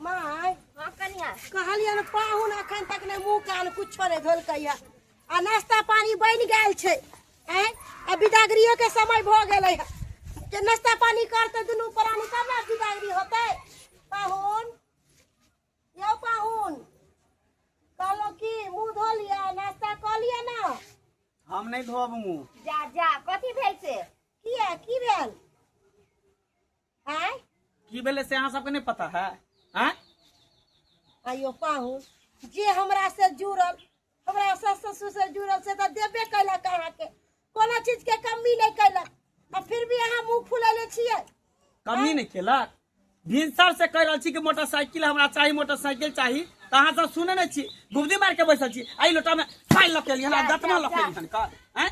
माय हाँ कनिया कहलिए ने पाहुन अखन तक ने मुंह कान कुछो ने धोलकैया आ नाश्ता पानी बन गेल छै हैं आ बिदागरियो के समय भ गेलै है के नाश्ता पानी करते दुनू प्राणी तब ने बिदागरी होतै पाहुन यौ पाहुन कहलो की मुंह धो लिया नाश्ता क लिया ना हम नहीं धोब मुंह जा जा कथी भेल से किया की भेल आय की भेलै से अहाँ सबके नहि पता है आँय आइयो पाहुन जे हमरा से जुड़ल हमरा सास ससुर से जुड़ल से तऽ देबे कैलक अहाँके कोनो चीज के कमी नहि कैलक आ फिर भी अहाँ मुंह फुलेले छियै कमी नहि केलक भिनसर से कहि रहल छी कि मोटरसाइकिल हमरा चाही मोटरसाइकिल चाही तऽ अहाँ सब सुनै नहि छी गुबदी मारि के बैसल छी एहि लोटामे पानि लऽ के एलियै हन आ गतमा लऽ के एलियै हन का आँय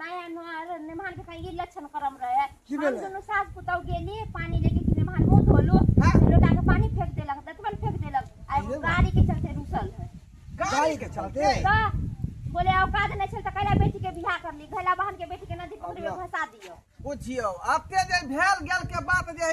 नया नोहर मेहमान के कहीं ई लक्षण करम रहे की हम भेलै? दुनू सास पुतौ गेली पानी लेके कि मेहमान मुंह धोलो हाँ। लोटा के पानी फेंक देलक दतमन फेंक देलक आ एगो अरे वाह। गाड़ी के चलते रुसल है गाड़ी के चलते का बोले औकात नहीं छल त कैला बेटी के बियाह कर ली कैला बहन के बेटी के नदी पोखरी में अल्लाह। फंसा दियो बुझियो आते जे भेल गेल के बात जे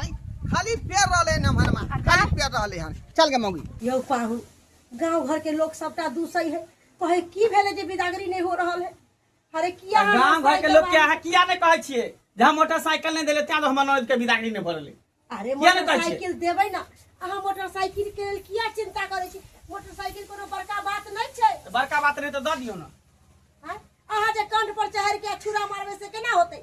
आई खाली पेड़ रहले न मनमा खाली पेड़ रहले हन चल गे मौगी यौ पाहु गांव घर के लोग सबटा दूसै है कहे की भेले जे बिदागरी नहीं हो रहल है अरे किया अहाँ गांव घर के साइकिल लोग के अहाँ किया नहीं कहै छियै जे हम मोटरसाइकिल नहीं देले तें तो हमर ननद के बिदागरी नहीं भरले अरे किया नहि कहै छियै? मोटरसाइकिल देबै ना अहाँ मोटरसाइकिल के लेल किया चिंता करै छी मोटरसाइकिल कोनो बड़का बात नहीं छै तो बड़का बात नहीं तो दऽ दियौ ना आँय? अहाँ जे कंठ पर चहर के छुरा मारबै से केना होतै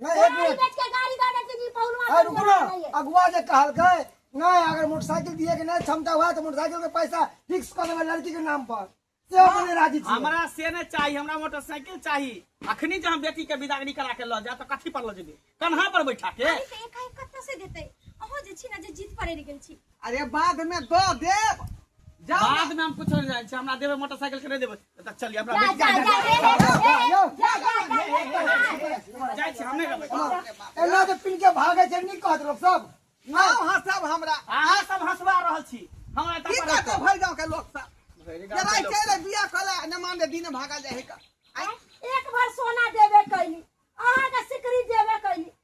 नहीं एक मिनट बैठ के गाड़ी गाड़ी के जी पहुलवा अरे रुको ना अगुआ जे कहलकै नहीं अगर मोटरसाइकिल दिए के नहीं क्षमता हुआ तो मोटरसाइकिल के पैसा फिक्स कर देबै लड़की के नाम पर से हम नहीं राजी छी हमरा से नहि चाही हमरा मोटरसाइकिल चाही अखनी जे हम बेटी के विदागरी करा के लऽ जा तऽ कथी पर लऽ जेबै कन्हा पर बैठा के अरे से एकाएक कत्ता से देते अहो जे छी ना जे जीत पड़े गेल छी अरे बाद में दो देव जाओ ना। बाद में हम कुछ नहीं जाने हमरा देबे मोटरसाइकिल के नहीं देबे त चलिए हमरा जा, जा, जा, ए, ए, यो, जा, जा, ए, ए, ए, ए, जाय छी हम नहीं रहबै ए, एना जे पिन के भागे छै नी कहत लोग सब नाम हंसब हमरा अहाँ सब हंसवा रहल छी हमरा की एतऽ कहते भर गांव के लोग सब जरा चले बिया कला न मान दे दिन भागा जाए का आय, एक भर सोना देवे कैली अहाँ के सिकरी देवे कैली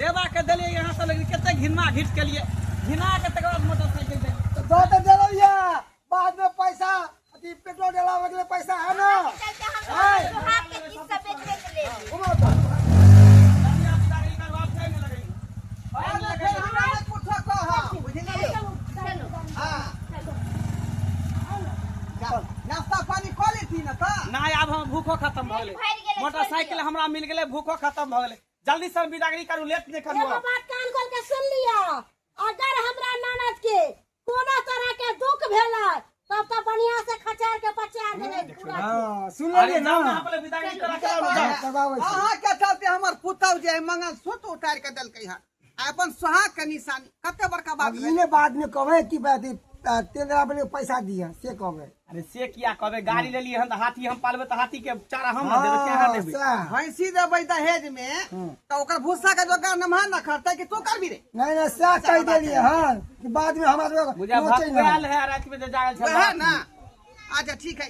देवा के देलिए यहाँ से लेकिन कितने घिना घिट के लिए घिना के तक बाद मोटरसाइकिल दे तो दो तो दे रही है बाद में पैसा अति पेट्रोल डाला के लिए पैसा है ना घुमा तो बाद में फिर हमरा ने कुछ कहा बुझलिए हां नाश्ता पानी कर लेती ना का ना आब हम भूखो खत्म भऽ गेलै भरि गेलै, मोटरसाइकिल हमरा मिल गेलै भूखो खत्म भऽ गेलै जल्दी सर बिदागरी करू लेट नहीं करू एगो बात कान खोल के सुन लिया अगर हमरा ननद के कोनो तरह के दुख भेला तब तो बढ़िया से खचार के पचार देने पूरा हाँ, सुन अरे लेलिए ना जाओ ना यहाँ पर बिदागरी करा के आओ, जाओ। हाँ, तब आबै छी। अहाँ के चलते हमर पुतौ जे मंगल सूत्र उतार के देलकै हन अपन सोहाग के निशानी कते बड़का बात अब इने बाद में कहबे कि बात ई, आ, तेल दरा पर पैसा दिया से कहबे अरे से किया कहबे गाड़ी ले लिए हन त हाथी हम पालबे त हाथी के चारा हम न देबे चारा हाँ, लेबे सैह। भैंसी देबै दहेज में हम्म। तो ओकर भूसा के जोगाड़ नमहा न खरतै कि तू करबी रे नहीं नहीं सैह कह देलिए हाँ कि बाद में हमारे बुझा नोचे भकुआल ना है रात में जे जागल छै वएह ना अच्छा ठीक है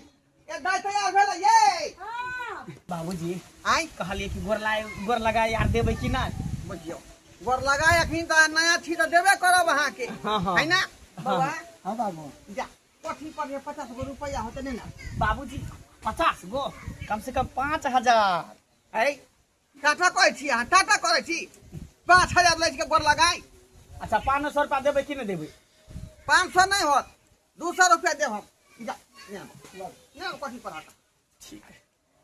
ए दाई तैयार भेल ये हां बाबूजी आई कहलिए कि गोर लाए गोर लगा यार देबे कि ना बुझियो गोर लगा अखनी त नया छी त देबे करब अहा के हां हां है ना बाबा हां बाबू जा कोठी पर ये 50 गो रुपया होते ने ना बाबूजी 50 गो कम से कम 5000 है टाटा कहै छी अहाँ टाटा कहै छी पाँच हजार लै के गोर लगाई अच्छा पाँच सौ रुपया देबै कि नहीं देबै पाँच सौ नहीं होत दू सौ रुपया दे हम ठीक है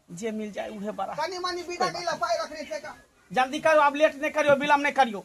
जे मिल जाए उहे बड़ा कनी मनी बिदा नहीं लपाई रखने से का जल्दी करो आप लेट नहीं करियो विलम्ब नहीं करियो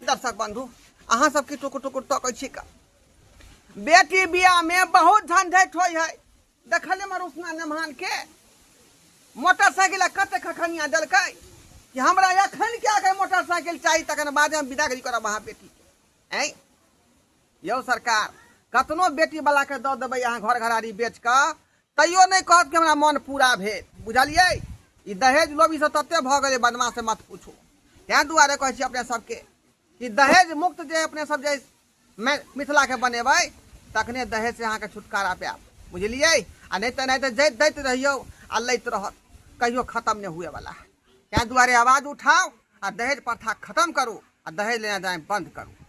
दर्शक बंधु अहाँ सब की टुकुर टुकुर तकै छी का बेटी बियाह में बहुत झंझट होय है देखले में रूपना नमहान के मोटरसाइकिल कते खखनिया देलकै कि हमरा अखन के आके मोटरसाइकिल चाही तखन बाद में विदागरी करब अहाँ बेटी के ऐं यौ सरकार कतनो बेटी वाला के दऽ देबै अहाँ घर घरारी बेच कऽ तैयो नहि कहत कि हमरा मन पूरा भेल बुझलियै ई दहेज लोभी से तते भऽ गेलै बदमाश से मत पूछू तैं दुआरे कहै छी अपने सबके कि दहेज मुक्त जे अपने सब जे मिथिला के बनेबै तखने दहेज से अहाँके छुटकारा पायब बुझलियै आ नहि तऽ नहि तऽ जैत दैत रहियौ आ लैत रहत कहियो खत्म नहि हुए वाला है तैं दुआरे आवाज उठाउ आ दहेज प्रथा खत्म करू आ दहेज लेना जाए बंद करू